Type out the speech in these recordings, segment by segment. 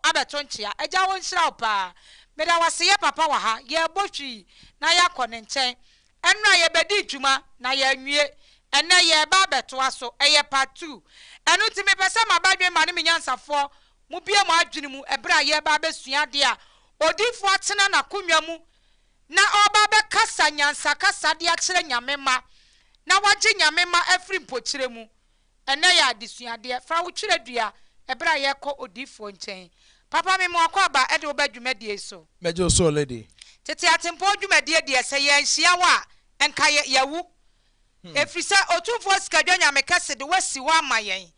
abɛto nkyea. Agya wo nhyira wo paa. Meda wo ase yɛ papa wɔ ha. Yɛrebɔ hwii na yɛakɔ ne nkyɛn. Ɛnora yɛbɛdii dwuma na yɛanwie. Ɛnnɛ yɛreba abɛtoa so. Ɛyɛ part two. Ɛno nti mepɛ sɛ maba adwene ma ne me nyansafoɔ mo bue mo adwene mu ɛberɛ a yɛreba abɛsua adeɛ a odiyifoɔ atena n'akonnwa mu na ɔreba abɛkasa nyansakasa de akyerɛ Nyame mma na wagye Nyame mma afiri mpokyerɛ mu. Ɛnnɛ yɛ adesuadeɛ. Fa wo twerɛdua ɛberɛ a yɛrekɔ odiyifoɔ nkyɛn. Papa mema wo akwaaba de wo ba dwumadie yi so. Mɛgye wo so lady. Tete atempɔn dwumadie deɛ sɛ yɛanhyia wo a, nka yɛ, yɛawu. Ɛfiri sɛ Otumfoɔ Sikadwa Nyame Kɛse de wo asi hɔ ama yɛn.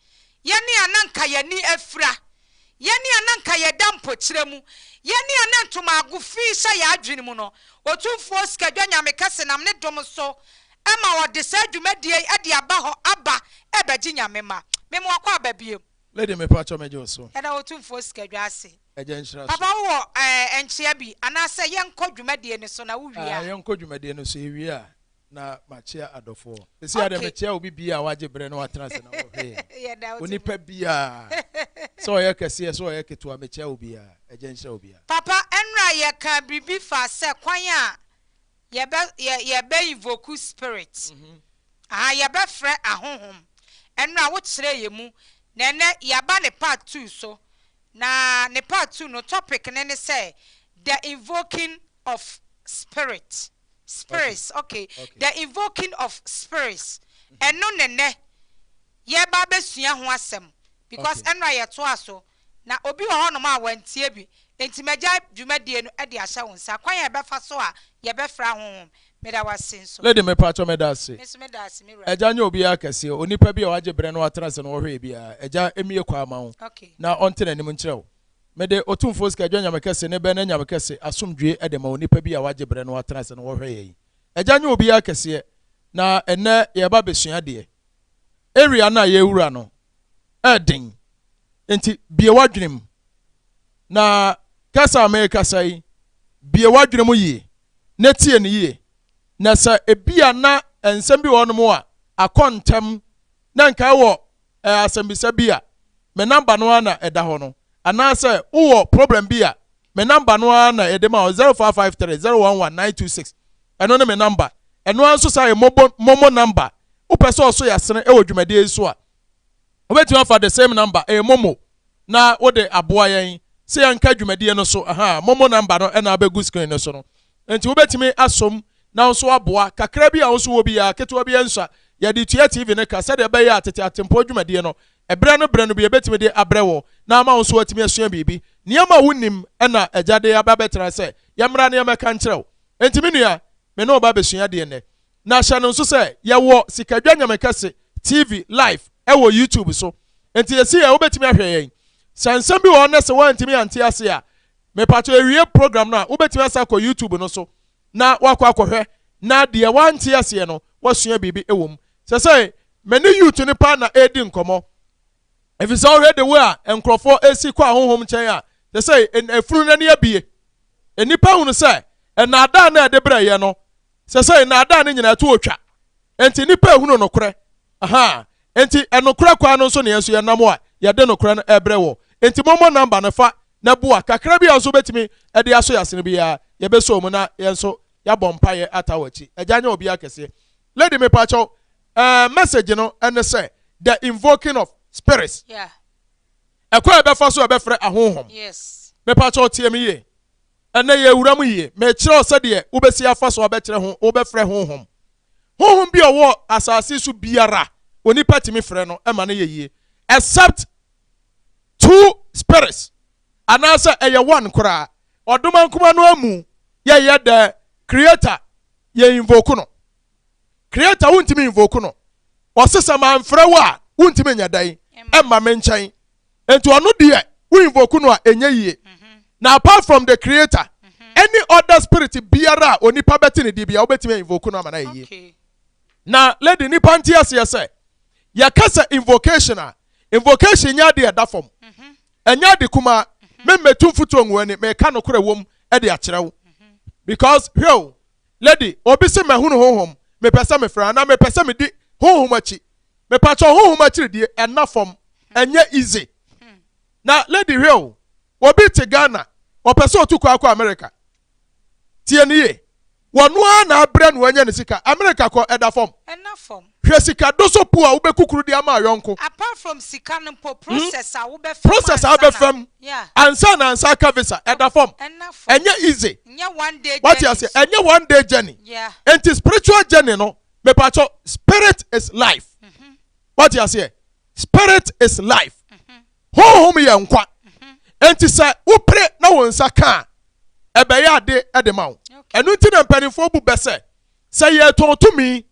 Yɛne a na nka yɛn ani afira. Yɛne a na nka yɛda mpokyerɛ mu. Yɛne a na ntomaago fi hyɛ yɛn adwene mu no, Otumfoɔ Sikadwa Nyame Kɛse nam ne dom so ɛma wɔde saa dwumadie yi de aba hɔ aba rebɛgye Nyame mma. Meme wakɔ aba biom. Lady me pakyɛ megye wo so. Yɛda Otumfoɔ sika dwa ase. Agya nhyira so. Papa wowɔ eh nkyea bi anaasɛ yɛnkɔ dwumadie no so na wo wie a. Ah yɛnkɔ dwumadie no so yɛwie a na makyea adɔfoɔ. Sɛsei ara deɛ okay. mekyea obi biaa a wagye berɛ na watena ase na ɔhwɛ yɛn. Yɛda Otumfoɔ. Onipa biaa sɛ ɔyɛ kɛseɛ sɛ ɔyɛ ketewa mekyea obiaa. Agya nhyira obiaa. Papa ɛnora yɛkaa biribi faa sɛ kwan a Yɛbɛ yɛ yɛbɛ invoku spirit ahaa yɛbɛ frɛ ahonhom ɛnora wo kyerɛ yɛ mu na ɛnɛ yaba ne part two so na ne part two no topic no ne sɛ the invoking of spirit spirits ok the invoking of spirits ɛno ne nɛ yɛba abɛsua ho asɛm because ɛnora yɛtoa so Na obi wɔ hɔnom a wantie bi, enti magyae dwumadie no de ahyɛ wo nsa. Kwan a yɛbɛfa so a yɛbɛfra honhom. Meda wo ase nso. Lady, Mepaatwɔ meda ase. Me nso meda ase, me wura. Agya nyɛ obiara kɛseɛ, onipa bi a wagye berɛ na watena ase na ɔhwɛɛ biara. Agya mmue kwan mma wo Okay. na ɔnte n'anim nkyerɛ wo. Mede Otumfoɔ Sika Dwa Nyame Kɛse ne Bɛn Anyame Kɛse asomdwoeɛ de ma onipa bi a wagye berɛ na watena ase na ɔhwɛ yɛn. Agya nyɛ obiara kɛseɛ, na ɛnnɛ yɛreba abɛsua adeɛ. Area no a yɛrewura no, yɛ den. Enti bue w'adwene mu. Na kasa a merekasa yi, bue w'adwene mu yie na tie no yie. Na sɛ ebia na nsɛm bi wɔ hɔnom a akɔ ntɛm na nka ɛwɔ eh, asɛmbisa bi a, me namba no ara na ɛda hɔ no. Anaasɛ wowɔ problem bi a Me number no ara na yɛde ma wo, zero five five three zero one one nine two six. Ɛno ne me number. Ɛno ara nso saa yɛ mobo, momo number. Wopɛ sɛ ɔso yasene wɔ dwumadie yi so a, wobɛtumi afa the same number, ɛyɛ momo, na wode aboa yɛn sɛ yɛnka dwumadie no so. Aha, momo number no na abɛgu screen no so no. Nti wobɛtumi asom na wo nso aboa. Kakra bi a wo nso wɔ biara, ketewa biara nsua, yɛde tua TV no ka sɛdeɛ ɛbɛyɛ a tete Atempɔn dwumadie no Ɛberɛ no berɛ no bi yɛbɛtumi de abrɛ wo na ama wo nso woatumi asua biribi. Nneɛma a wonnim na Agya de aba abɛtena sɛ yɛmmra na yɛmmɛka nkyerɛ wo. Enti me nua, me ne wo ba abɛsua adeɛ nnɛ. Na hyɛ no nso sɛ yɛwɔ Sikadwa Nyame Kɛse TV live wɔ YouTube so. Enti seesei ara wobɛtumi ahwɛ yɛn. Sɛ nsɛm bi wɔ hɔ na sɛ woantumi ante aseɛ a, mepakyɛw yɛwie program no a, wobɛtumi asan akɔ YouTube no so na woakɔ akɔhwɛ na deɛ woante aseɛ no woasua biribi wɔ mu. Seesei Me ne youth no paa na ɛredi nkɔmmɔ. Efisɛ wohwɛ the way a nkurɔfoɔ ɛresi kɔ ahonhom nkyɛn a, te sɛ efunu no ani abue. Nnipa hunu sɛ nnaadaa no a ɛde brɛ yɛn no, sɛ sɛ nnaadaa no nyinaa to otwa. Enti nnipa rehunu nokorɛ. Ahaa. Enti ɛnokorɛ kwan no nso na yɛn nso yɛnam a yɛde nokorɛ no ɛrebrɛ wɔ. Enti mommɔ number no fa na bua kakra bi a nso wobɛtumi ɛde aso yɛasene biara, yɛbɛsɔ mu na yɛn nso yɛabɔ mpaeɛ ata w'akyi. Agya nyɛ obiara kɛseɛ. Lady me pa kyɛw eh, message no ɛne sɛ the invoking of spirits. Yeah. Ɛkɔ a ɛbɛfa so ɛbɛfrɛ ahonhom. Yes. Me pa kyɛw tie me yie. Ɛnɛ yɛ wura mu yie. Me kyerɛ wo sɛdeɛ wobɛsi afa so abɛkyerɛ ho wobɛfrɛ honhom. Honhom bi ɔwɔ asase so biara onipa tumi frɛ no ɛma no yɛ yie except two spirits anaasɛ ɛyɛ one koraa Ɔdoma nkoma no amu yɛ yɛ dɛ creator yɛ invoke no creator wontumi invoke no ɔse sɛ manfrɛ wo a wontumi nyɛ dɛn ɛmma me nkyɛn nti ɔno deɛ wo invoke no a ɛnyɛ yie na apart from the creator any other spirit biara a onipa bɛte ne deɛ bia wobɛtumi a invoke no ama no ayɛ yie na lady nipa nte aseɛ sɛ yɛka sɛ invocation a invocation nyɛ adeɛ ɛda fam Ɛnyɛ ade kumaa. Me mmetu mfutuo ngu w'ani, meka nokorɛ wom de akyerɛ wo. Because, hwɛ o, lady, obi se mahunu honhom, mepɛ sɛ mefra, anaa mepɛ sɛ medi honhom akyi. Mepakyɛw, honhom akyiridie, ɛnna fam, ɛnyɛ easy. Na, lady, hwɛ o, obi te Ghana, ɔpɛ sɛ ɔtu kwan kɔ America. Tie no yie. Wɔno ara na abrɛ no anya ne sika. America kɔ ɛda fam. Ɛna fam. Hwɛ sika doso po a wobɛkukuru de ama ayɔnko. Apart from sika no mpo, process a wobɛfa mu ansa na. Process a wobɛfa mu. Yeah. Ansa na ansa aka visa. Ɛda fam. Ɛna fam. Ɛnyɛ easy. Nyɛ one day journey. Wate aseɛ? Ɛnyɛ one day journey. Yeah. Enti spiritual journey no, mepakyɛw, spirit is life. Wate aseɛ? Spirit is life. Honhom yɛ nkwa. Enti sɛ wopere na wo nsa ka a, ɛbɛyɛ ade de ma wo. Ɛno nti na mpanimfoɔ bu bɛ sɛ, sɛ yɛretɔn tumi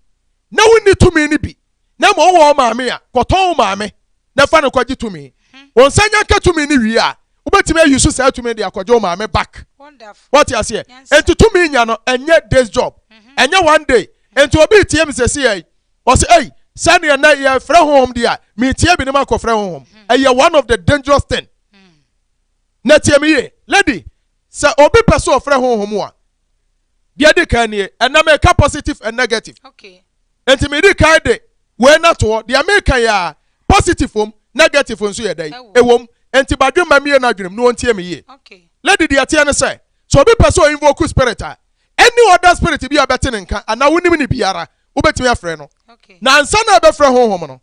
na wonni tumi no bi na mmom wowɔ wo maame a, kɔtɔn wo maame na fa no kɔgye tumi. Wo nsa nya ka tumi no wie a, wobɛtumi ayi so saa tumi de akɔgye wo maame back. Wɔte aseɛ? Enti tumi nya no ɛnyɛ days job. Ɛnyɛ one day. Enti obi retie me sɛsi yɛ yi, Ɔsɛ ei sɛdeɛ nɛ yɛfrɛ honhom deɛ a metie binom akɔfrɛ honhom hmm. ɛyɛ one of the dangerous thing hmm. na tie me yie lady sɛ obi pɛ sɛ ɔfrɛ honhom a deɛ di kan nie ɛnna meka positive and negative okay. nti medi kan de wei na toɔ deɛ meka yɛ a positive wom negative nso yɛ dɛn ɛwom nti badwe ma mie no adwenem na ɔntie me yie okay. lady deɛ teɛ ne sɛ sɛ obi pɛ sɛ ɔinvoke spirit a any other spirit bi a bɛte ne nka anaa wonim ne biara wobɛtumi afrɛ no na ansa na ɛbɛfrɛ honhom no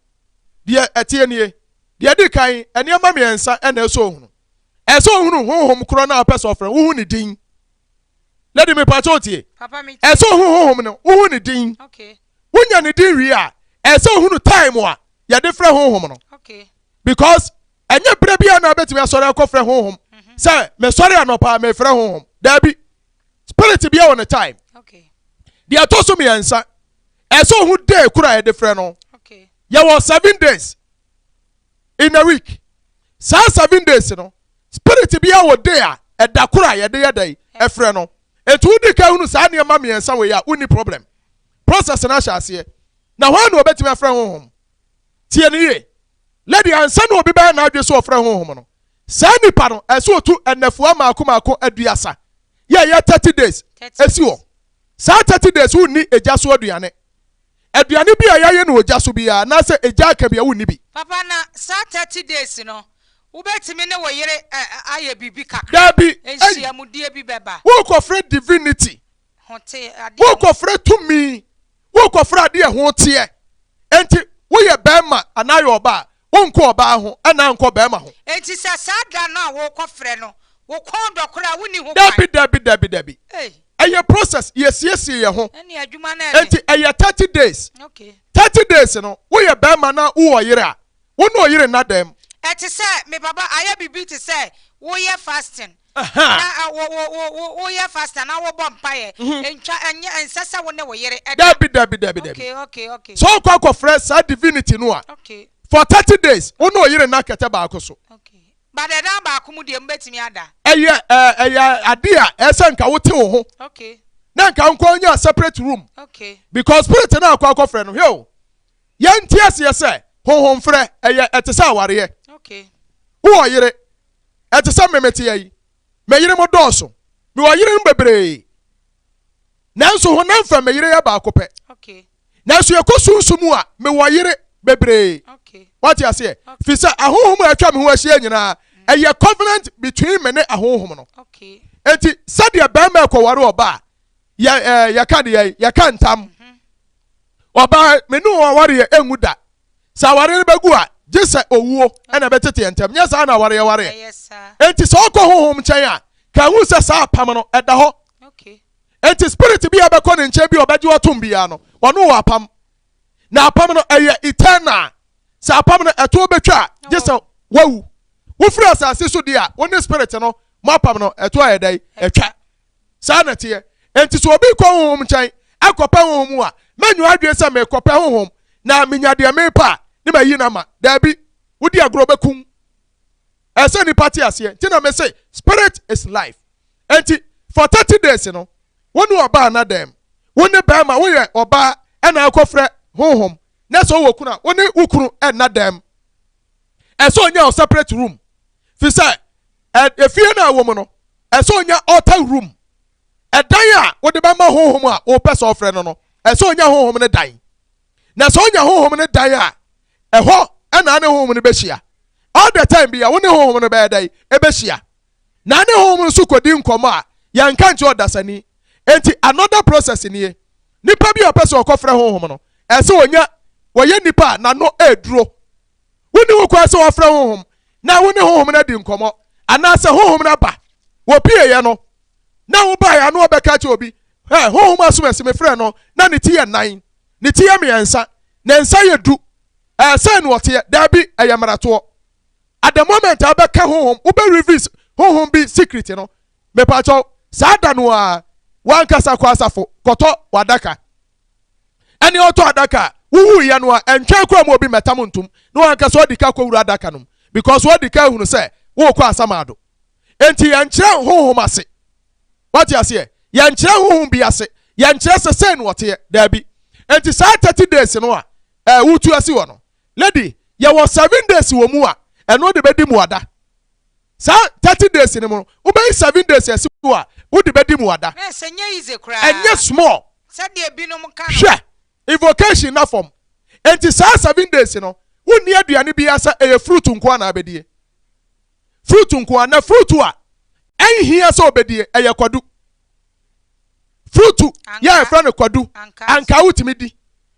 deɛ ɛteɛ nie deɛ di kan nneɛma mmiɛnsa ɛna ɛsɛ ohunu ɛsɛ ohunu honhom korɔ no a ɔpɛ sɛ ɔfrɛ wohu ne din lady mepakyɛ otie ɛsɛ ohunu honhom no wohu ne din wonya ne din wie a ɛsɛ ohunu time a yɛde frɛ honhom no because ɛnyɛ berɛ biara na wobɛtumi asɔre akɔfrɛ honhom mhm. sɛ mesɔre anɔpa mefrɛ honhom daabi spirit bia wɔ ne time deɛ ɛtɔ so mmiɛnsa ɛsɛ ohu day kura yɛde frɛ no yɛwɔ seven days in a week saa seven days no spirit bia wɔ day a ɛda koro a yɛde yɛ dɛn ɛfrɛ no etu wodi ka hunu saa nneɛma mmiɛnsa wɔ yi a wonni problem process no ahyɛ aseɛ na wɔn na wɔbɛtumi afrɛ honhom tie ne yie Lady, Ansa na obi bɛyɛ n'adwene sɛ ɔfrɛ honhom no, saa nipa no, ɛsɛ sɛ otu nnafua mmaako mmaako aduasa, yɛ ɛyɛ thirty days, si hɔ. Saa thirty days wonni egya so aduane. Aduane bi a yɛayɛ no wɔ gya so biara anaasɛ egya aka bi a, wonni bi. Papa, na saa thirty days no, wobɛtumi ne wo yere ayɛ biribi kakra, nhyiamudie bi bɛba? Worekɔfrɛ divinity Worekɔfrɛ tumi, worekɔfrɛ adeɛ a ɛho teɛ. Enti woyɛ barima anaa yɛ ɔbaa, wonkɔ ɔbaa ho anaa nkɔ barima ho. Enti sɛ saa da no a worekɔfrɛ no, wo kɔn dɔ koraa a, wonni ho kwan. Dabi, dabi, dabi, dabi. Ɛyɛ process, yɛsiesie yɛn ho. Enti ɛyɛ thirty days. Thirty days no, woyɛ barima na wowɔ ɔyere a, wo ne ɔyere nna dɛm. Ɛte sɛ, me papa, ayɛ biribi te sɛ woyɛ fasting. Aha! Na wo, wo, wo, wo, woyɛ fast anaa wobɔ mpaeɛ? Mhm. Ntwa, ɛnyɛ, ɛnsɛ sɛ wo ne wo yere ɛda. Dabi, dabi, dabi, dabi. Okay, okay, okay, Sɛ wokɔ akɔfrɛ saa divinity no a, okay, for 30 days, wo ne wo yere nna kɛtɛ baako so. okay. But ɛdan baako mu deɛ mobɛtumi ada. Ɛyɛ, ɛɛ, ɛyɛ ade a ɛyɛ sɛ nka wote wo ho, Okay, na nka nkɔ nya separate room, okay, because spirit no a akɔ akɔfrɛ no, hwɛ o, Yɛnte aseɛ sɛ honhomferɛ ɛyɛ ɛte sɛ awareɛ. Wowɔ yere? Ɛte sɛ me meteɛ yi. Me yerenom dɔɔso. Mewɔ yerenom bebree. Nanso honam fam me yere yɛ baako pɛ. Nanso yɛkɔ sunsum a, mewɔ yere bebree. Wate aseɛ? Firi sɛ ahonhom a atwa me ho ahyia nyinaa, ɛyɛ covenant between me ne ahonhom no. Enti sɛdeɛ barima ɛkɔware ɔba a, yɛka deɛ yɛka ntam. Ɔbaa, me ne wo awareɛ ɛngu da. Sɛ awareɛ no bɛgu a, gye sɛ owuo na ɛbɛtete yɛn ntam. Nyɛ saa na awareɛ wareɛ. Enti sɛ ɔkɔ honhom nkyɛn a, ka ɛhu sɛ saa apam no, ɛda hɔ. Enti spirit bi a ɛbɛkɔ ne nkyɛn bi a ɔbɛgye watom biara no, ɔne wo apam. Na apam no, ɛyɛ eternal. Sɛ apam no, ɛtoɔ bɛtwa a, gye sɛ wawu. Wofiri asase so deɛ a, wo ne spirit no, mo apam no, ɛtoɔ ayɛ dɛn? Ɛtwa. saa na ɛteɛ. Enti sɛ obi kɔ honhom nkyɛn ɛkɔpɛ honhom mu a, mɛnyi w'adwene sɛ merekɔpɛ honhom na menya deɛ merepɛ a ne mayi no ama. Daabi, wodi agorɔ wobɛkum. Ɛsɛ sɛ nnipa te aseɛ. Nti na mese spirit is life. Enti for 30 days no, wo ne ɔbaa na dɛm? Wo ne bɛrima woyɛ ɔbaa ɛna akɔfrɛ honhom na sɛ wowɔ kunu a wo ne wo kunu ɛna dɛm. Ɛsɛ onya wo separate room fi sɛ efie no a ɛwɔ mu no ɛsɛ onya altar room ɛdan a wode bɛma honhom a wopɛ sɛ ɔfrɛ no no ɛsɛ onya honhom no dan na sɛ onya honhom no dan a ɛhɔ ɛna ne honhom no bɛhyia all the time bi a wo ne honhom no bɛyɛ dɛn ɛbɛhyia na ne honhom no so kɔdi nkɔmmɔ a yɛnka nkyɛ ɔdasani enti another process nie nipa bi a ɔpɛ sɛ ɔkɔfrɛ honhom no ɛsɛ onya wɔyɛ nipa a n'ano ɛreduro Wonni ho kwan sɛ wɔfrɛ honhom na wo ne honhom no adi nkɔmmɔ, anaasɛ honhom no aba. Wɔpieeɛ no, na wobaeɛ a na wɔbɛka akyerɛ obi, Hwɛ, honhom asomasi mefrɛɛ no, na ne ti yɛ nnan, ne ti yɛ mmiɛnsa, ne nsa yɛ du. Ɛɛ, sɛn na ɔteɛ? Daabi, ɛyɛ mmaratoɔ. At the moment a wobɛka honhom, wobɛ reveal honhom bi secret no, mepakyɛw, saa da no ara, w'ankasa kɔ asafo kɔtɔ w'adaka. ɛne ɔtɔ adaka a wohuiɛ no a ɛntwɛn koraa mu obi mmɛtam ntom na wankasa ɔdi ka kɔwura adaka no mu because wadi ka ahunu sɛ worekɔ asamado enti yɛnkyerɛ honhom ase wate aseɛ yɛnkyerɛ honhom bi ase yɛnkyerɛ sɛ sɛn no ɔteɛ daabi enti saa 30 days no a ɛɛ wotu asi hɔ no lady yɛwɔ 7 days wɔ mu a ɛno de bɛdi mu ada Saa thirty days no mu no, wobɛyi seven days asi hɔ a wode bɛdi mmuada. Nurse, ɛnyɛ easy koraa. Ɛnyɛ small. Sɛdeɛ binom ka no. Hwɛ, invocation nna fam. Enti saa seven days no, wonni aduane biara sɛ ɛyɛ fruit nko ara na abɛdie. Fruit nko ara, na fruit a ɛnhia sɛ ɔbɛdie, ɛyɛ kwadu. Fruit yɛ a yɛfrɛ no kwadu, ankaa wotumi di,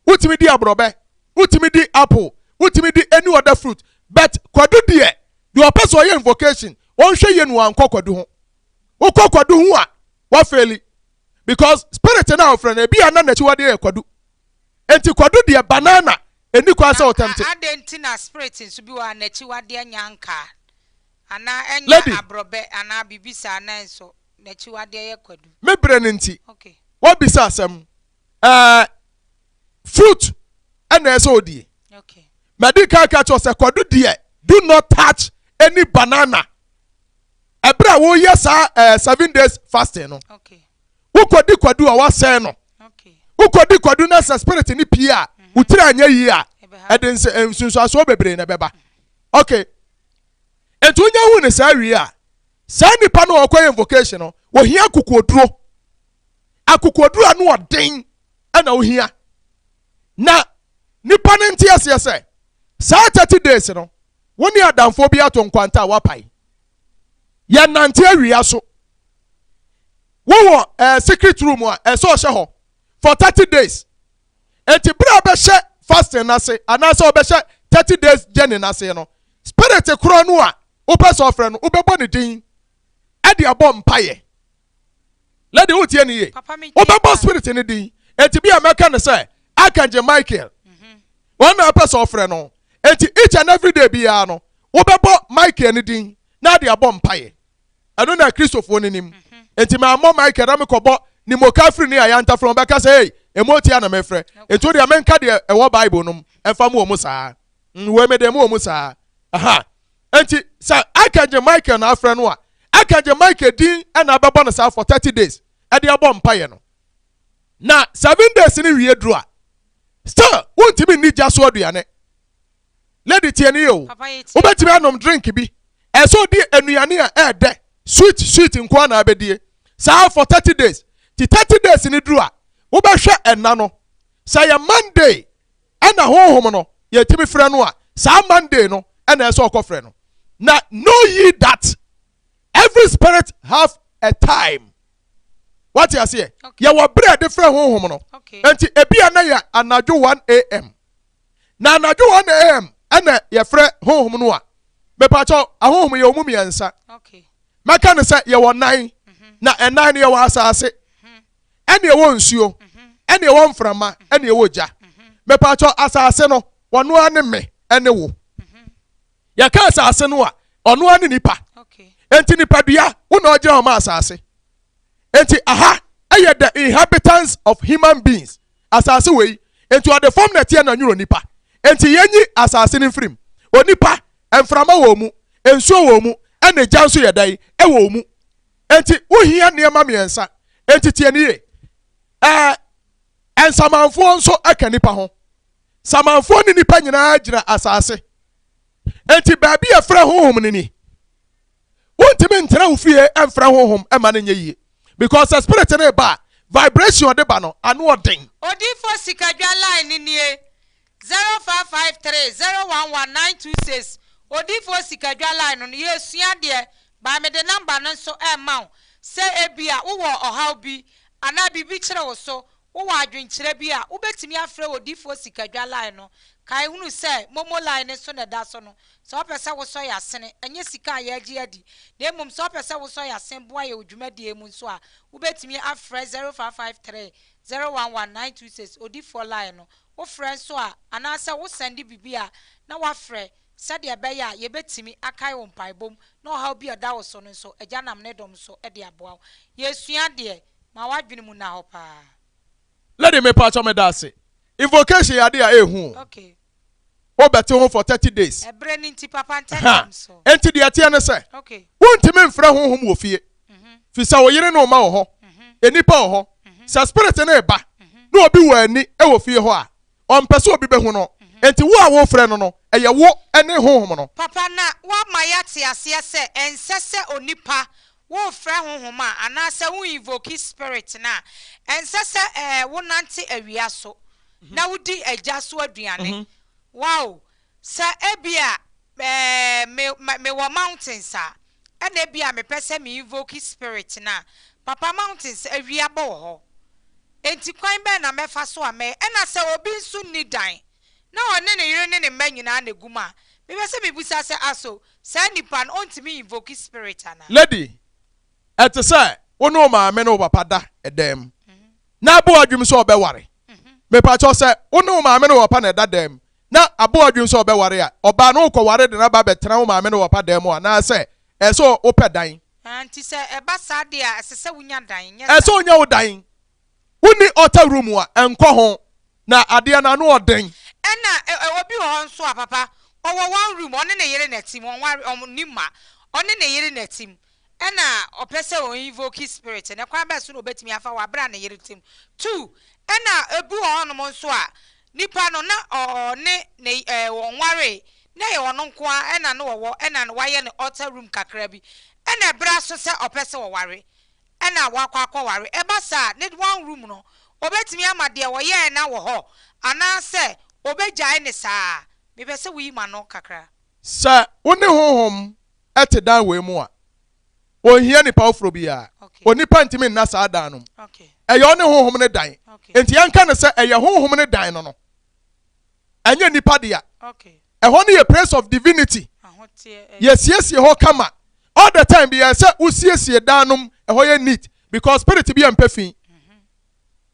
wotumi di aborɔbɛ, wotumi di apple, wotumi di any other fruit, but kwadu deɛ Deɛ ɔpɛ sɛ ɔyɛ invocation, ɔnhwɛ yie no wankɔ kwadu ho. Wokɔ kwadu ho a, wafeeli. Because spirit no a ɔfrɛ no, ebi a na n'akyiwadeɛ yɛ kwadu. Enti kwadu deɛ banana, ɛnni kwan sɛ ɔtɛmte. Adɛn nti na spirit nso bi wɔ hɔ a n'akyiwadeɛ nyɛ ankaa, anaa ɛnyɛ Lady. aborɔbɛ anaa biribi saa nanso n'akyiwadeɛ yɛ kwadu? Me berɛ no nti, Okay. woabisa asɛm. ɛɛ fruit ɛna ɛsɛ odie mɛdi kan ka kyerɛ sɛ kwadu deɛ do not touch any banana ɛbrɛ a woyɛ saa ɛɛ seven days fasting no wokɔdi kwadu a wasɛn no wokɔdi kwadu na sɛ spirit ne pie a mhm. wotiri anyɛ yie a ɛde nsunsuasoɔ bebree na ɛbɛba mhm. okay nti wonya hu ne saa wie a saa nipa no ɔkɔ yɛ invocation no wɔhia kokooduro. akokoɔduro ano ɔden na ohia na nipa no nte aseɛ sɛ saa 30 days no wo ne adamfoɔ bi ato nkwanta a wapae yɛ nante awia so wowɔ eh, secret room a ɛsɛ ɔhyɛ hɔ for 30 days enti berɛ a bɛhyɛ fasting no ase anaasɛ ɔbɛhyɛ 30 days journey no ase no spirit korɔ no a wopɛ sɛ ɔfrɛ no wobɛbɔ ne din ɛde abɔ mpaeɛ Lady, wotie no ye? Wobɛbɔ spirit no din. Enti bi a mɛka no sɛ Archangel Michael. Mhm. Wɔn na ɛpɛ sɛ ɔfrɛ no. Enti each and every day biara no, wobɛbɔ Michael no din na ade abɔ mpaeɛ. Ɛno na Kristofoɔ no nim. Mhm. Enti mammɔ Michael na mekɔbɔ ne moka firi ne ayanta frɛ wɔbɛka sɛ ei, ɛmu otia na mefrɛ. Enti wo deɛ menka deɛ ɛwɔ Bible nom ɛfa mu wɔ mu saa. Mm, wei mede mu wɔ mu saa. Aha. Enti sɛ Archangel Michael na afrɛ no a, Archangel Michael din na abɛbɔ no saa for thirty days ɛde abɔ mpaeɛ no. Na seven days no wie duru a, still wontumi nni gya so aduane. Lady tie ne yɛ o, wobɛtumi anom drink bi, ɛsɛ sɛ odi nnuane a ɛɛdɛ, sweet sweet nko ara na abɛdie saa for thirty days. Ti thirty days no duru a, wobɛhwɛ ɛna no, sɛ ɛyɛ Monday ɛna honhom no yɛtumi frɛ no a saa Monday no ɛna ɛsɛ ɔkɔ frɛ no na know ye that every spirit have a time wate aseɛ yɛwɔ berɛ de frɛ honhom no nti ebi a na yɛ anadwo 1 am na anadwo 1 am ɛna yɛfrɛ honhom no a mepakyɛw ahohom yɛ ɔmu mmiɛnsa mɛka no sɛ yɛwɔ nan mhm. na ɛnan no yɛwɔ asase mhm. ɛne ɛwɔ nsuo, ɛne ɛwɔ mframa, ɛne ɛwɔ gya. Mepatwɔ asase no, wɔno ara ne me, ɛne wo. Yɛka asase no a, ɔno ara ne nipa. Enti nipadua, wo na ɔgyina hɔ ma asase. Enti aha ɛyɛ the inhabitants of human beings, asase wɔ yi. Enti ɔde fam na ɛteɛ na nwuro nipa. Enti yɛnyi asase no mfirim. Onipa, mframa wɔ mu, nsuo wɔ mu, ɛne gya nso yɛ dɛn, ɛwɔ mu. Enti wohia nneɛma mmiɛnsa. Enti tie no yie. Ɛɛ, nsamanfoɔ nso ka nnipa ho. Samanfoɔ ne nnipa nyinaa gyina asase. Enti baabi a ɛfrɛ honhom no ni. Wontumi ntena wo fie mfrɛ honhom mma no nyɛ yie. Because sɛ spirit no reba a, vibration ɔde ba no, ano ɔden. Odiyifoɔ Sikadwa line no nie, Zero five five three zero one one nine two six Odiyifoɔ Sikadwa line no no yɛresua adeɛ by mede number no nso rema wo sɛ ebia wowɔ ɔhaw bi anaa biribi kyere wo so wowɔ adwenkyerɛ bi a wobɛtumi afrɛ Odiyifoɔ Sikadwa line no kae hunu sɛ momo line no so na ɛda so no sɛ wopɛ sɛ wosɔ yɛn asene ɛnyɛ sika a yɛregye adi na mmom sɛ wopɛ sɛ wosɔ yɛn asene boa yɛn wɔ dwumadie mu nso a wobɛtumi afrɛ zero five five three zero one one nine two six Odiyifoɔ line no wofrɛ nso a, anaasɛ wosɛnde biribi a, na woafrɛ sɛdeɛ ɛbɛyɛ a yɛbɛtumi akae wo mpaebɔ mu na ɔhaw bi a ɛda wo so no nso, Agya nam Ne dom so de aboa wo. Yɛresua deɛ, ma w'adwene mu nna hɔ paa. Lady mepakyɛw medase. Invocation yɛ ade a ehu o. Okay. Wo bɛ te ho for thirty days. Ɛberɛ no nti papa ntɛntɛm so. Enti deɛ ɛteɛ ne sɛ. Okay. Wo ntumi mfrɛ honhom wɔ fie. fi sɛ wo yere ne wo mma wɔ hɔ, nnipa wɔ hɔ. Sɛ spirit no reba na obi wɔ ani wɔ fie hɔ a, ɔmpɛ sɛ obi bɛhu no. Enti wo a worefrɛ no no, ɛyɛ wo ne honhom no. Papa, na woama yɛate aseɛ sɛ ɛnsɛ sɛ onipa worefrɛ honhom a anaasɛ wo invoke spirit no a, ɛnsɛ sɛ wonante awia so na wodi agya so aduane. Wow! Sɛ ebia me me mewɔ mountains a, ɛna ebia mepɛ sɛ me invoke spirit no a, papa mountains awia bɔ wɔ hɔ, enti kwan bɛn na mɛfa so a mɛyɛ? Ɛna sɛ obi nso nni dan na ɔne ne yere ne ne mma nyinaa na egu mu a, mepɛ sɛ mibisa sɛ ah so saa nipa no ontumi invoke spirit anaa? Lady, Ɛte sɛ wo ne wo maame ne wo papa da dan mu na ɛbɔ w'adwenem sɛ ɔbɛware. Mepa kyɛw sɛ wo ne wo maame ne wo papa na ɛda dan mu na abɔ wo adwene sɛ ɔbɛware a, ɔbaa no wokɔware de no aba abɛtena wo maame no wɔpa dan mu anaasɛ ɛsɛ sɛ wopɛ dan? Enti sɛ ɛba saa de a, ɛsɛ sɛ wunya dan, nyɛ saa? Ɛsɛ sɛ onya wo dan. Wonni outer room a, ɛnkɔ ho, na adeɛ no ano ɔ den. Ɛna obi wɔ hɔ nso a, papa, ɔwɔ one room, ɔne ne yere na ɛtem, wɔnware, wɔnni mma, ɔne ne yere na ɛtem, Ɛna ɔpɛ sɛ ɔ invoke spirit no, kwan bɛn so na obetumi afa hɔ abrɛ a ne yere te mu? Two, ɛna ebi wɔ hɔnom nso a, nipa no na ɔ ɔne ne y ɛɛ wɔnwaree, na ɛyɛ ɔno nko ara ɛna na ɔwɔ, ɛna na wayɛ no altar room kakra bi, ɛna ɛbra so sɛ ɔpɛ sɛ ɔware, ɛna wakɔ akɔware. Ɛba saa a, ne one room no, obetumi ama deɛ ɔyɛɛ no awɔ hɔ, anaasɛ obegyae no saa ara? Mepɛ sɛ woyi m'ano kakra. Sɛ wo ne honhom ɛte dan wei mu a, ɔnhia nnipa foforɔ biara. Onipa ntumi nna saa dan no mu. Ɛyɛ ɔne honhom no dan. Enti yɛnka no sɛ ɛyɛ honhom no dan no no. Ɛnyɛ nnipa dea. Ɛhɔ no yɛ place of divinity. Yɛsiesie hɔ kama. All the time biara sɛ wosiesie dan nom, ɛhɔ yɛ neat because spirit bi a mpɛ fi.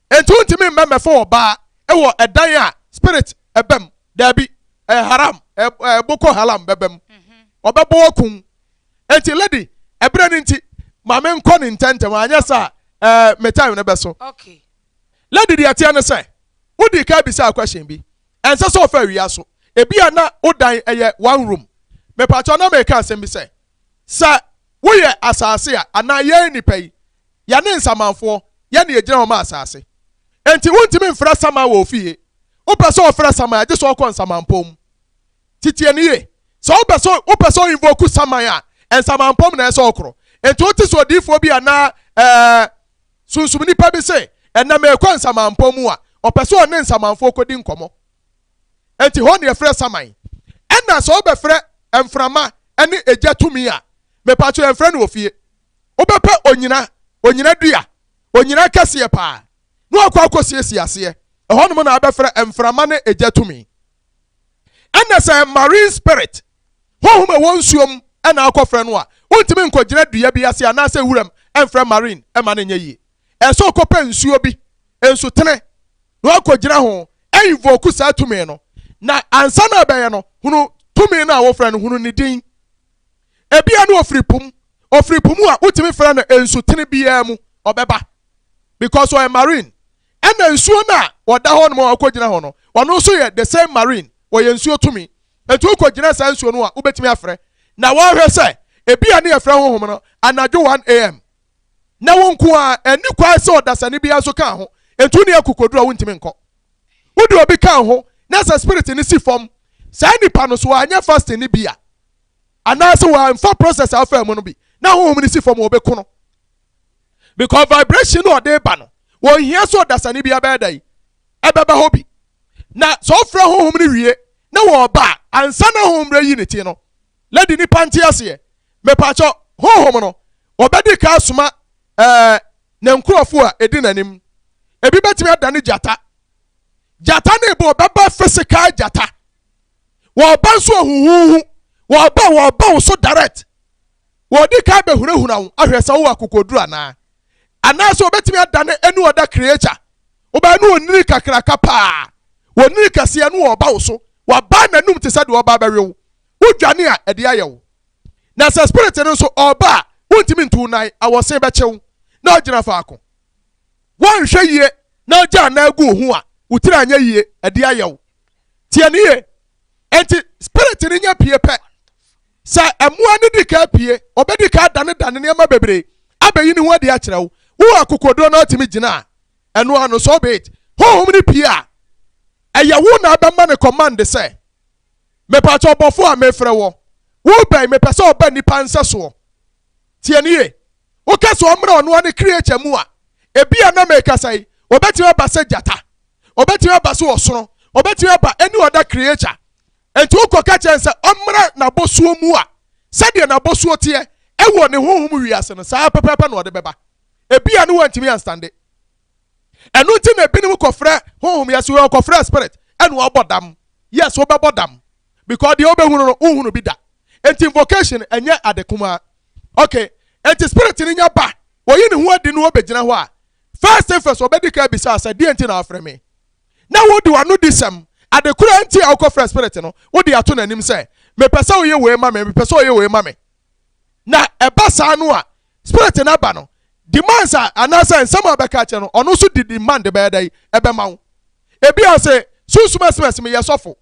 Enti wontumi mmɛ mmɛfa ɔbaa wɔ ɛdan a spirit ɛba mu. Daabi. Ɛyɛ haram. Ɛyɛ boko haram bɛba mu. Ɔbɛbɔ wo akum. Enti lady, ɛberɛ no nti, ma me nkɔ ne ntɛntɛm, anyɛ saa a, ɛɛ, me time no bɛso. Okay. Lady deɛ ɛteɛ ne sɛ, wodii kan bisaa question bi. Ɛnsɛ sɛ ɔfa awia so. Ebia na wo dan ɛyɛ one room. Mepakyɛw na meka asɛm bi sɛ, sɛ woyɛ asase a, anaa yɛn nnipa yi, Yɛne nsamanfoɔ, yɛn na yɛgyina hɔ ma asaase. Enti wontumi mfra saman wɔ ofie. Wopɛ sɛ ɔfra saman a, gye sɛ ɔkɔ nsamanpɔn mu. Nti tie no yie. Sɛ wopɛ sɛ, wopɛ sɛ ɔinvoku saman a, nsamanpɔn mu na ɛsɛ sɛ ɔkorɔ. Enti wote sɛ odiyifoɔ bi anaa, ɛɛ, sunsum nipa bi se, Ɛnnɛ merekɔ nsamanpɔn mu a, ɔpɛ sɛ ɔne nsamanfoɔ kɔdi nkɔmmɔ. Enti hɔ na yɛfrɛ saman. Ɛnna sɛ wobɛfrɛ mframa ne egya tumi a, mepakyɛw yɛmfrɛ no wɔ fie. wobɛpɛ onyina, onyina dua, onyina kɛseɛ paa, na wakɔ akɔsiesie aseɛ. Ɛhɔnom na abɛfrɛ mframa ne egya tumi. Ɛnna sɛ marine spirit, honhom a ɛwɔ nsuo mu, na akɔfrɛ no a, wontumi nkɔgyina dua bi ase anaasɛ wuram mfrɛ marine mma no nyɛ yie. Ɛsɛ sɛ ɔkɔpɛ nsuo bi, nsutene, na wakɔgyina ho ainvoke saa tumi no. Na ansa na abɛyɛ no, hunu tumi no a wofrɛ no, hunu ne din. Ebia no ɔfiri po mu. Ɔfiri po mu a wotumi frɛ no nsutene biara mu. Ɔbɛba. Because ɔyɛ marine. Ɛna nsuo no a ɔda hɔ nom a ɔkɔgyina hɔ no, ɔno nso yɛ the same marine. Ɔyɛ nsuo tumi. Enti wokɔgyina saa nsuo no a, wobɛtumi afrɛ. Na wɔahwɛ sɛ, ebia ne yɛfrɛ honhom no anadwo 1 AM. Na wo nko ara, ɛnni kwan sɛ ɔdasani biara nso ka ho. Enti wone akokoduru a wontumi nkɔ. Wode obi ka ho na sɛ spirit no si fam saa nipa no so a, ɛnyɛ fasting no bi a. Anaase wamfa process a ɔfaa mu no bi na honhom no si fam a ɔbɛku no. Because vibration no a ɔde ba no, wɔnhia sɛ ɔdasani biara bɛyɛ dɛn? Ɛbɛba hɔ bi. Na sɛ ɔfrɛ honhom no wie na wɔba a, ansa na honhom no ayi ne ti no, lady nipa nte aseɛ, mepakyɛ honhom no, ɔbɛdi ka asoma ɛɛ ne nkurɔfoɔ a ɛdi n'anim. Ebi bɛtumi adane gyata. Gyata ne bɔ ɔbɛba physical gyata. Wɔba nso ahuhuuhu. Wɔba, wɔba wo so direct. Wɔdi kan bɛhunahuna wo ahwɛ sɛ wowɔ akokoduru anaa. Anaasɛ wɔbɛtumi adane any other creature. Wobɛyɛ no onini kakraka paa. Onini kɛseɛ no ɔreba wo so. Wabaa n'anum te sɛ deɛ ɔreba abɛwe wo. Wodwane a, ɛdeɛ ayɛ wo. Na sɛ spirit no nso ɔreba a, wontumi ntu wo nan, awɔsen bɛkye wo, na wogyina faako. Woanhwɛ yie na wogyaa wo nan guu ho a, wo tiri anyɛ yie, ɛdeɛ ayɛ wo. tie ne yie nti spirit no nya pie pɛ sɛ ɛmoa no di ka pie ɔbɛdi ka danedane nneɛma bebree abɛyi ne ho adi akyerɛ wo wo akokoɔduro no atumi gyina a ɛno ano so be it honhom no pie a ɛyɛ wo na abɛma no command sɛ mepatɛ ɔbɔfo a mefrɛ wɔ wobɛn mepɛ sɛ ɔba nnipa nsɛsoɔ Tie no yie. Woka sɛ ɔmmra ɔno ara ne kreature mu a, ebia na merekasa yi, ɔbɛtumi aba sɛ gyata, ɔbɛtumi aba sɛ ɔsono, ɔbɛtumi aba any other creature. Enti wokɔka kyerɛ no sɛ ɔmmra n'abɔsoɔ mu a, sɛdeɛ n'abɔsoɔ teɛ wɔ ne honhom wiase no, saa ara pɛpɛɛpɛ na ɔde bɛba. Ebia na wantumi anstande. Ɛno nti na ebinom kɔfrɛ honhom yɛ so, wɔkɔfrɛ spirit ɛna ɔbɔ dam. Yes, wobɛbɔ dam because deɛ wobɛhunu no wonhunu bi da. Enti invocation ɛnyɛ ade kumaa. Okay, enti spirit no nya ba, oyi ne ho adi na obegyina hɔ a, first thing first obedi kan abisa wo sɛ, deɛn nti na wafrɛ me? Na wode w'anodisɛm, ade koro a enti a wokɔfrɛ spirit no, wode ato n'anim sɛ, mepɛ sɛ woyɛ wei ma me, mepɛ sɛ woyɛ wei ma me. na ɛba saa no a spirit no aba no demands a anaasɛ nsɛm a ɔbɛka akyerɛ no ɔno nso de demand bɛyɛ dɛ ɛbɛma wo ebi a ɔsɛ sunsum ɛsmɛs meyɛ sɔfo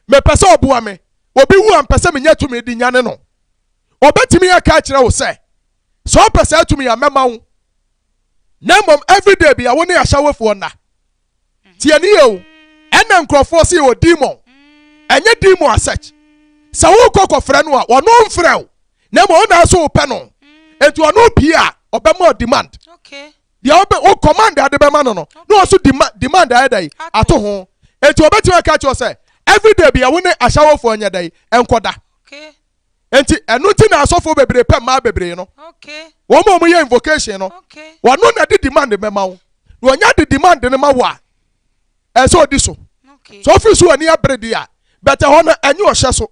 mepɛ sɛ ɔboa me obi wu a mpɛ sɛ menya tumi de nyane no ɔbɛtumi aka akyerɛ wo sɛ sɛ ɔpɛ saa tumi a mɛma wo na mmom everyday bia wo ne ahyɛwefoɔ nna Tie ne yie o. Ɛna nkurɔfoɔ se o demon. Ɛnyɛ demon as such. Sɛ wokɔ kɔfrɛ no a, ɔno mfrɛ wo. Na mmom wo na wo so wopɛ no. Enti ɔno pie a, ɔbɛma wo demand. Deɛ wobɛ, wo command a de bɛma no no, na ɔso dema, demand ayɛ dɛn? Ato ho. Enti ɔbɛtumi aka akyerɛ wo sɛ, everyday bia wo ne ahyɛwofoɔ nyɛ dɛn? Nkɔda. nti ɛno nti na asɔfoɔ bebree pɛ mmaa bebree no wɔn a wɔyɛ invocation no wɔn na de demand mɛma wo na wɔnya de demand no ma wo a ɛsɛ ɔdi so so ɔfiri so ani abere di a bɛtɛ hɔ no ɛnyɛ ɔhyɛ so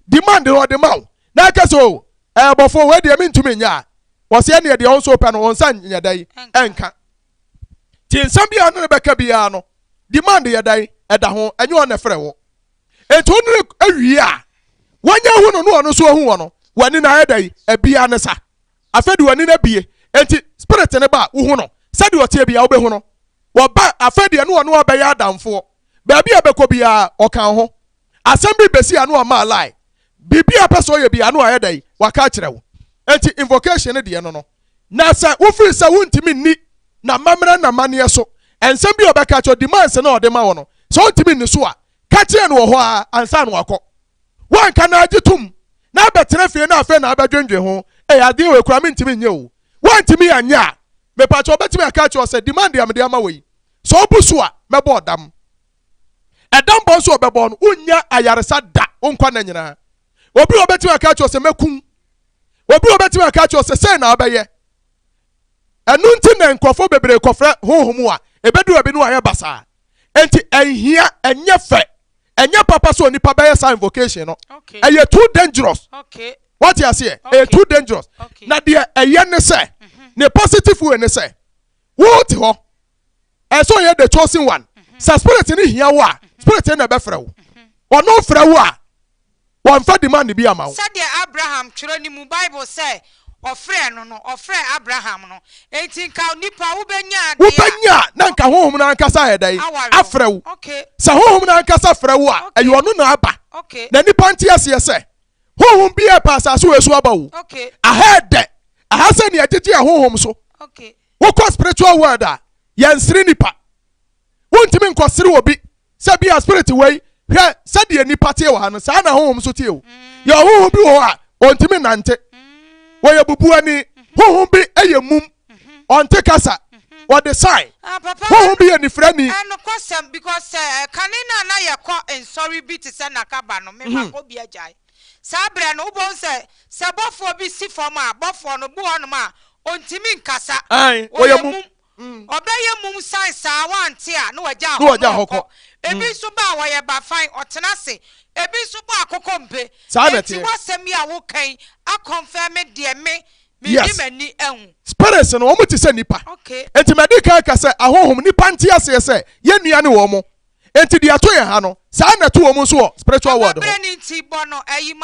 demand no ɔde ma wo na ɛkɛ sɛ o ɛbɔfo wei deɛ mentumi nyɛ a wɔsɛ ɛneɛ deɛ ɔnso pɛ no ɔnsa nyɛ dɛ ɛnka Ti nsɛm bi a ɔne no bɛka biara no demand yɛ dan ɛda ho ɛnyɛ ɔne frɛ wo enti ɔne no awie a wanya hu no ne ɔno nso ahu wɔ no w'ani no ayɛ dan ɛbia ne sa afei de w'ani no abie enti spirit ne ba a wohu no sɛdeɛ ɔteɛ biara wobɛhu no wɔba afei deɛ ne ɔne ɔbɛyɛ adamfoɔ baabi a bɛkɔ biara ɔka ho Asɛm bi besi ano a maa lie. Biribi a ɔpɛ sɛ ɔyɛ biara no ayɛ dɛn? Waka akyerɛ wo. Enti invocation no deɛ no no. Na sɛ wofiri sɛ wontumi nni n'amammerɛ ne n'amanneɛ so, nsɛm bi a ɔbɛka akyerɛ wo, demands no a ɔde ma wo no, sɛ wontumi nni so a, ka kyerɛ no wɔ hɔ ara ansa na wakɔ. Woanka na agye tom na abɛtena fie na afei na abɛdwendwen ho, Ei, adeɛ wei koraa mentumi nyɛ o. Woantumi anyɛ a, mepa kyɛw, ɔbɛtumi aka akyerɛ wo sɛ, demand a mede ama wo yi, sɛ wobu so a, mɛbɔ ɔdam. Ɛda mbɔ so a ɔbɛbɔ no, wonnya ayarsa da wo nkwa nna nyina. Obi wɔ hɔ a obetumi aka akyerɛ wo sɛ, Mɛku wo. Obi wɔ hɔ a obetumi aka akyerɛ wo sɛ, Sɛn na wobɛyɛ? Ɛno ntsi na nkorɔfo beberee kɔfrɛ honhom mu a ebedu baabi no wɔayɛ basaa. Ntsi nnhia, nnyɛ fɛ, nnyɛ papa sɛ onipa bɛyɛ saa invocation no. Ɛyɛ too dangerous. Wɔatse aseɛ? Ɛyɛ too dangerous. Na deɛ ɛyɛ ne sɛ, ne positive way ne sɛ, wotse hɔ ɛsɛ sɛ ɔyɛ the chosen one mhm. sɛ spirit no hia wo a mhm. spirit no na ɛbɛfrɛ wo mhm. ɔno frɛ wo a wɔmfa demand bi ama wo sɛdeɛ abraham twerɛ no mu bible sɛ ɔfrɛ no no ɔfrɛ abraham no enti nka nipa wobɛnya wobɛnya na nka honhom no ankasa ayɛ dɛn afrɛ wo sɛ honhom no ankasa frɛ wo a ɛyɛ ɔno na aba na nipa nte aseɛ sɛ honhom bi ɛpa asase wɔ ɛso aba wo aha ɛdɛ aha sɛ nea ɛgyegye a honhom so Wokɔ spiritual world a, yɛnsere nnipa. Wontumi nkɔsere obi sɛ bi a spirit wei hwɛ sɛdeɛ nnipa teɛ wɔ ha no saa na honhom nso teɛ o. Yɛ ɔhonhom bi wɔ hɔ a ɔntumi nnante. Wɔyɛ bubuani. Honhom bi yɛ mum. Ɔnte kasa. Wɔde sign. Ah, papa, Honhom bi yɛ nifirani. ɛnokwasɛm because eh, kane no a na yɛkɔ nsɔre bi te sɛ nakaba no mema kɔ bi agyae Saa berɛ no, wobɛhu sɛ, sɛ bɔfoɔ bi si fam a, bɔfoɔ no, bi wɔ hɔnom a, ɔntumi nkasa. Ɔyɛ mum. Ɔbɛyɛ mum sane saa, wante a, na wagya hɔ, na ɔkɔ. Ebi nso ba a, ɔyɛ bafan, ɔtena ase. Ebi nso bɔ akokɔ mpe. Enti w'asɛm yi a woka yi akɔnfɛme deɛ me, mede m'ani ahu. Spirits no, wɔte sɛ nnipa. Enti madi kan aka sɛ, ahonhom, nnipa nte aseɛ sɛ yɛn nua ne wɔn. Enti deɛ ɛto yɛn ha no, saa ara na ɛto wɔn nso wɔ spiritual world hɔ.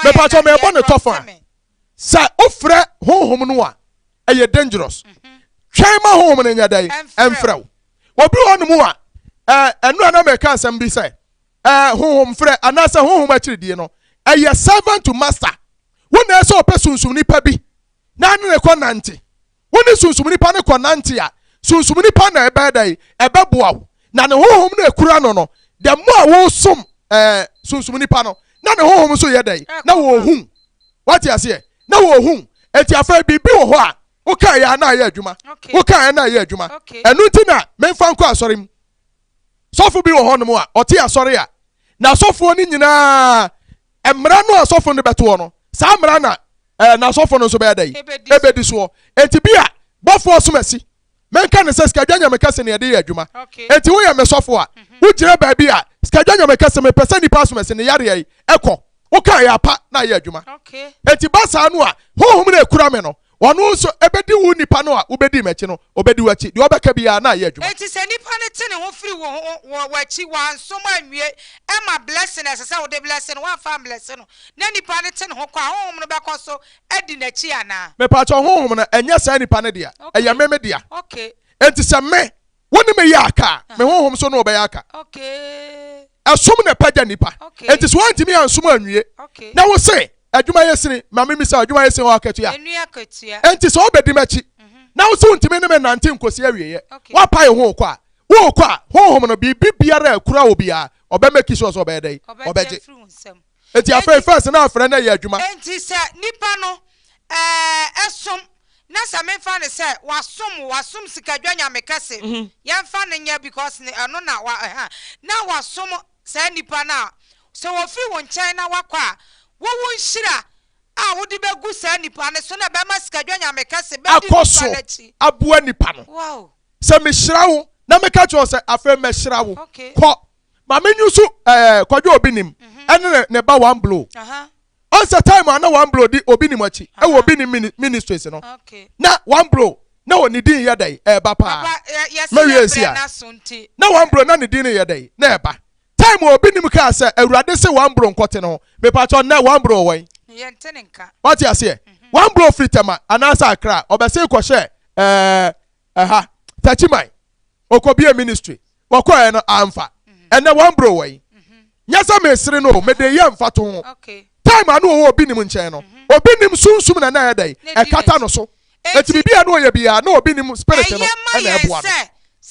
Mepakyɛw, merebɔ no tɔfa. Sɛ wofrɛ honhom no a, ɛyɛ dangerous. Mhm. Twɛn ma honhom no nyɛ dɛn? Ɛmfrɛ wo. Obi wɔ nom a, ɛno a na mɛka asɛm bi sɛ, honhom frɛ anaasɛ honhom akyiridie no, ɛyɛ servant to master. Wo na ɛsɛ ɔpɛ sunsum nipa bi na ne ne kɔ nante. wo ne sunsum nipa no kɔnante a, sunsum nipa na ɛbɛyɛ dɛn? Ɛbɛboa wo. Na ne honhom no ekura no no, the more a wosom ɛɛ sunsum nipa no, na ne honhom nso yɛ dɛn? Na wɔhu. Wate aseɛ? Na wɔhu. Eti afei biribi wɔ hɔ a wokaeɛ a na ɛyɛ adwuma. Okay. Wokaeɛ na ɛyɛ adwuma. Okay. Ɛno nti na memfa nkɔ asɔre mu. Sɔfo bi wɔ hɔnom a ɔte asɔre a na asɔfoɔ no nyinaa Mmara no a asɔfo no bɛtoɔ no, saa mmara na eh, n'asɔfo no nso bɛyɛ dɛ ebedi soɔ. Enti bi a bɔfoɔ som asi. Menka ne sɛ sikadwa nyame kɛse ne ɛde yɛ adwuma. Enti woyɛ me sɔfo a, mhm. wogyina baabi a sikadwa nyame kɛse mepɛ sɛ nipa som asi ne yareɛ yi ɛkɔ. Woka ɛyɛ apa na ayɛ adwuma. Enti ba saa no a, honhom na ekura me no, Ɔno nso bedi wo nipa no a wobedi m'akyi no, obedi w'akyi. Deɛ ɔbɛka biara na ayɛ adwuma. Enti sɛ nipa no te ne ho firi wo ho wɔ w'akyi, wansom anwie, ɛma blessing a ɛsɛ sɛ wode blesse no, wamfa amblesse no, na nipa no te ne ho kɔ a, honhom no bɛkɔ so adi n'akyi anaa? Mepaakyɛw, honhom no, ɛnyɛ saa nipa no dea, ɛyɛ me me dea. Enti sɛ me, Wo ne me yɛ aka a, me honhom so ne wo bɛyɛ aka. Ɛsom na ɛpagya nnipa. Enti sɛ woantumi ansom anwie, na wo se adwuma yɛ sini, ma me misa adwuma yɛ sini hɔ akatua. Enti sɛ wobɛdi m'akyi, mhm. na wo se wontumi ne me nante nkosi awieɛ, woapae wo ho kɔ a, worekɔ a, honhom no biribi biara a ɛkura wo biara, ɔbɛmaki sure sɛ ɔbɛyɛ dɛn? Ɔbɛgye. Enti afei first na afrɛ na ɛyɛ adwuma. Enti sɛ nipa no ɛɛ ɛsom na sɛ me nfa no sɛ wasom o wasom sikadwa nyame kɛse yɛ nfa no nyɛ because ne ɛno na wa ɛha na wasom saa nipa no a sɛ ofiri wo nkyɛn na wakɔ a wo wo nhyira a wode bɛ gu saa nipa no so na ɛbɛ ma sikadwa nyame kɛse bɛ di nipa no akyi aboa nipa no wow sɛ me hyira wo na me ka kyerɛ wo sɛ afei mɛ hyira wo okay kɔ. Maame nyusu ɛɛ eh, kwadwo obi nim mhm. ɛne ne ne ba one blow. Ɔnsɛ time a na one blow di obi nim akyi ɛwɔ obi nim ministries no. Na one blow na wɔ ne din yɛ dɛ ɛɛba paa. Mɛwie nsi a na one blow na ne din yɛ dɛ na ɛɛba. Time a obi nim kaa sɛ awurade se one blow nkɔte no mepatwɔ nnɛ one blow wɔn. Wate aseɛ mhm. one blow firi tɛma anaasɛ akra ɔbɛse kɔhyɛ ɛɛ eh, ɛha eh, tɛkyiman. ɔkɔbie ministry wɔkɔɛ no amfa ɛnɛ wɔn bro wɔ yi nyɛ sɛ mesere no mede yɛ mfa to ho time a na ɔwɔ obi nim nkyɛn no mhm. obi nim sunsum na na ɛyɛ dɛn ɛkata no so eti biribi a na ɔyɛ biara na obi nim spirit no ɛna ɛboa no.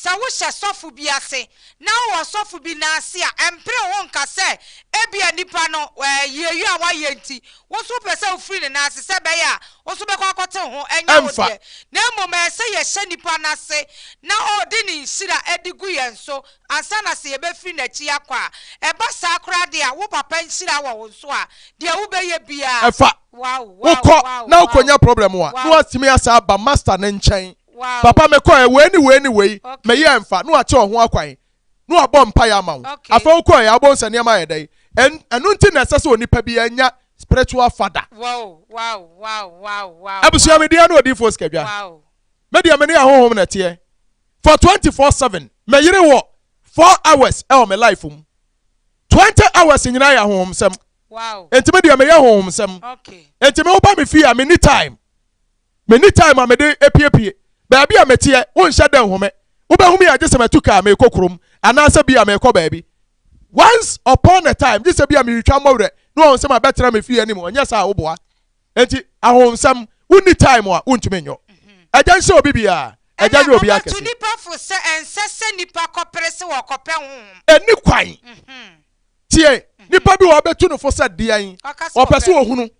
sɛ wohyɛ sɔfo bi ase na wowɔ sɔfo bi n'ase a ɛmpere ho nka sɛ ebia nipa no yieyie a wayɛ nti Wo nso wopɛ sɛ wofiri ne nan ase sɛ ɛbɛyɛ a wo nso wobɛkɔ akɔtew ho? Ɛnyɛ wo Ɛmfa. deɛ. Na mmom ɛyɛ sɛ yɛhyɛ nnipa no ase na ɔde ne nhyira de gu yɛn so ansa na sɛ yɛbɛfiri n'akyi akɔ a. Ɛba saa koraa de a, wo papa nhyira wɔ wo nso a, deɛ wobɛyɛ biara. Ɛfa. Wow, wow, Wokɔ wow, na wow, wokɔnya problem a, na wow, watumi asan aba Master no nkyɛn. wow. Papa mekɔeɛ, wei ne wei ne wei, Okay. meyɛɛ ɛmfa, na wakyɛ wo ho akwan. na wabɔ mpaeɛ ama wo afei wokɔɛ wobɛhu sɛ nneɛma ayɛ dɛn ɛno nti na ɛsɛ sɛ onipa bi anya spiritual father abusua medeɛ ne odiifoɔ sikadwa medeɛ mene ahohom na ɛteɛ for 24/7 meyere wɔ 4 hours ɛwɔ me life mu 20 hours nyinaa yɛ ahohom sɛm enti medeɛ meyɛ ahohom sɛm enti me woba me fie a menni time Menni time a mede apiepie baabi a meteɛ, wonhyɛ da nhu me. Wobɛhu me a gye sɛ matu kaa merekɔ kurom anaasɛ bi a merekɔ baabi. Once upon a time, gye sɛ bi a meretwa mmɔwerɛ na wɔahu sɛ mabɛtena me fie anim, ɛnyɛ saa a woboa. Enti ahonhonsɛm, wonni time a wontumi nyɛ. Agya nhyɛ obi biara, Agya nyɛ obiara kɛse. Ɛnna wɔbɛtu nnipa fo sɛ ɛnsɛ sɛ nnipa kɔpere se wɔkɔpɛ honhom. Ɛnni kwan. Tie, nnipa bi wɔ hɔ a wɔbɛtu no fo sɛ deɛn? Ɔpɛ sɛ ɔhunu.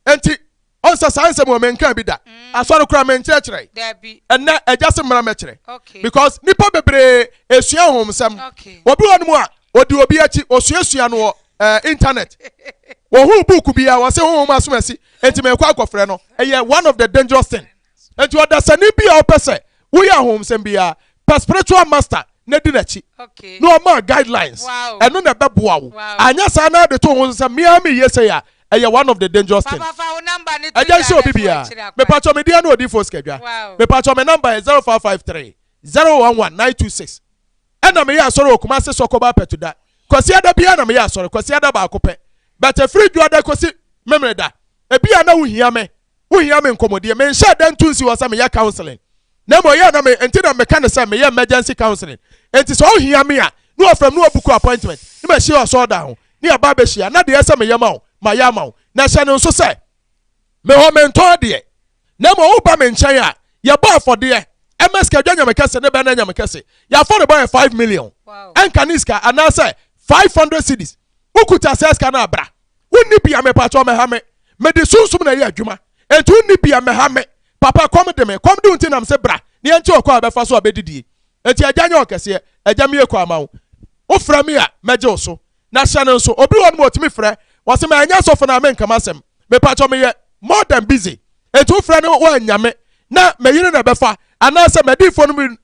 Enti. Ɔnsa saa nsɛm wɔ menkaa bi da. Asɔre koraa menkyerɛkyerɛe. Ɛnnɛ agya se mmra mɛkyerɛ. Because nnipa bebree esua ahonhomsɛm. Obi wɔ nom a odi obi akyi osuasua no wɔ eh, internet. Wɔhuu book bi a wɔse honhom asomasi enti mekɔ akɔfrɛ no. Ɛyɛ one of the dangerous thing. Enti ɔdasani bi a ɔpɛ sɛ woyɛ ahonhomsɛm biara, pɛ spiritual master na di n'akyi. Na ɔmaa guidelines. Ɛno na ɛbɛboa wo. Anyɛ saa na de to wo ho so sɛ me ara meyɛ sei a, ɛyɛ one of the dangerous thing. Agya nhyɛ obi biara. Mepakyɛ me deɛ ne Odiyifoɔ Sikadwa. Mepakyɛ me number yɛ 0553 011 926. Ɛna meyɛ asɔre wɔ Kumasi Sɔkɔba Apɛtuda. Kwasiada biara na meyɛ asɔre, Kwasiada baako pɛ. But ɛfiri Dwoada kɔsi Memeneda. Ebia na wohia me wohia me nkɔmmɔdie. Menhyɛɛ da nto nsi hɔ sɛ meyɛ counseling, na mmom ɛyɛ a na me nti na meka no sɛ meyɛ emergency counseling. Enti sɛ wohia me a, na wɔfrɛ me na wɔbuku appointment na mahyia wo asɔredan ho na yɛaba abɛhyia, na deɛ ɛyɛ sɛ meyɛ ma wo, mayɛ ama wo. Na hyɛ no nso sɛ, me hɔ mentɔn adeɛ, na mmom woba me nkyɛn a, yɛbɔ afɔdeɛ, ɛma sika dwa nyame kɛse, ne bɛn na ɛnyɛ me kɛse? Yɛn afɔrebɔ yɛ five million, ɛnka ne sika, anaasɛ five hundred cedis. Wokuta saa sika no a bra. Wonni bi a mepakyɛw mmɛha me. Mede sunsum na ɛyɛ adwuma. Enti wonni bi a mmɛha me. Papa kɔm de me. Kɔm de wo nti na mese bra na yɛnkyɛ ɔkwan a yɛbɛfa so abedidie. Enti agya nyɛ ɔkɛseɛ. Agya meyɛ kua ma wo. Wofrɛ me a mɛgye wo so. Na hyɛ no nso. Obi wɔ hɔnom a otumi frɛ. Wɔse ma ɛnyɛ sɔfo no a menka m'asɛm. Mepakyɛw meyɛ more than busy. Enti wofrɛ no wo anyame, na m'ayiri na ɛbɛfa, anaasɛ m'adiyifoɔ no mu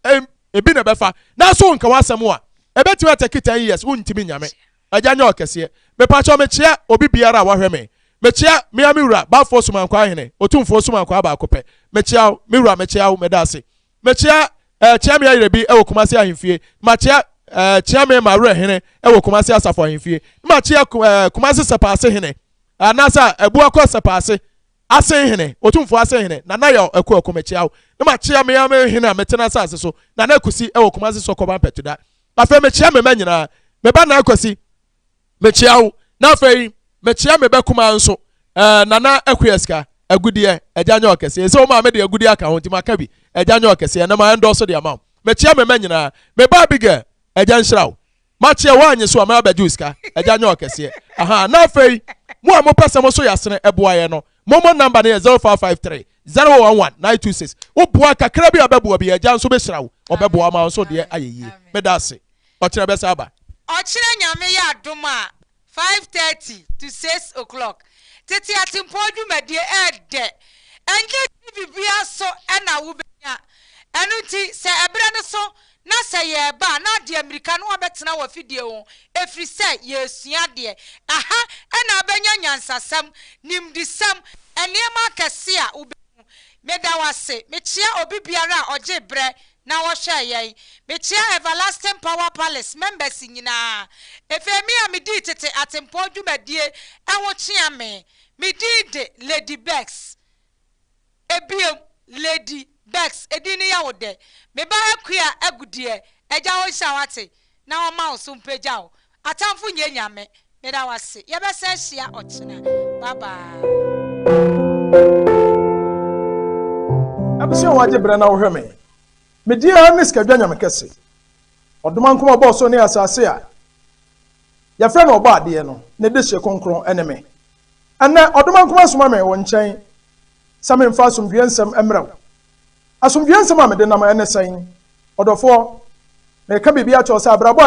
ebi na ɛbɛfa, nanso wonka w'asɛm a, ɛbɛtumi atake ten years, wontumi nya me. Agya nyɛ ɔkɛseɛ. Mepakyɛw mekyea obi biara a wahwɛ me. Mekyea me ara me wura, Balfour Somankwaa Hene, Otumfoɔ Somankwaa baako pɛ. Mekyea wo, me wura, mekyea wo, meda ase. Mekyea eh, kyea me ayerɛ bi wɔ Kumasi Ahemfie, makyea eh, kyea me ma werɛ hene wɔ Kumasi Asafo Ahemfie, makyea eh, Kumasi Sɛpaase Hene, anaasɛ Abuakɔ Sɛpaase Ase hene, Otumfoɔ ase hene, Nana Yaw Akuaku mekyea wo, ne makyea me ara me hene a mete n'asase so, Nana Akusi wɔ Kumase Sɔkɔba Mpatuda. Afei mekyea me mma nyinaa, me ba Naa Kwasi mekyea wo, na afei mekyea me ba kumaa nso eh, Nana Akuasika, Agudeɛ, agya nyɛ ɔkɛseɛ, ɛsɛ wo maame de agudeɛ aka ho nti maka bi, agya nyɛ ɔkɛseɛ, na ma ɛndɔɔso de ama wo. Mekyea me mma nyinaa, me ba Abigail, agya nhyira wo. Makyea woanye so a mɛba bɛgye wo sika. Agya nyɛ ɔkɛseɛ ahaa na afei mo a mopɛ sɛ moso yasene ɛboa yɛ no momo number no yɛ zero five five three zero one one nine two six wo boa kakra bi a bɛboa bi agya nso bɛhyira wo ɔbɛboa wo ma wo nso deɛ ayɛ yie meda ase ɔkyerɛ bɛsa aba. Ɔkyerɛ Nyame yɛ adom a Five thirty to six o clock tete atempɔn dwumadie ɛɛdɛ ɛnyɛ TV bia so ɛna wo bɛnya ɛno nti sɛ ɛberɛ no so na sɛ yɛɛba a na ade amirika na wabɛtena wɔ afidie ho ɛfiri sɛ yɛɛsua adeɛ ɛha ɛna abɛnya nyansasɛm nimdisɛm ɛneɛma akɛseɛ a wobɛhu meda wase mekyea obi biara a ɔgyee berɛ na wɔhwɛɛ yɛn, mekyia Everlasting Power Palace members nyinaa. Ɛfei me a medii tete atempɔn dwumadie ho kyea me. Me din de Lady Bex. Ɛbiom, Lady Bex, ɛdin no yɛ wo dɛ. Me ba Akua Agudeɛ, Agya ɔnhyira wo ate na ɔmma wo so mpagya wo. Atamfo nyɛ nyame. Meda wo ase. Yɛbɛsan ahyia ɔkyena. Bye bye. Abusua wɔ gye brɛ na wo hwɛ me me deɛ ara ne sikadwa nyame kɛse ɔdom ankom a ɔbɔɔ soro ne asase a yɛ frɛ no ɔbɔ adeɛ no ne de hye kronkron ɛne me ɛnɛ ɔdom ankom asoma me wo nkyɛn sɛ me mfa asomdwoeɛ nsɛm ɛmmerɛ wo asomdwoeɛ nsɛm a me de nam ɛne sɛn ɔdɔfoɔ me reka biribi akyɛw sɛ abrabɔ a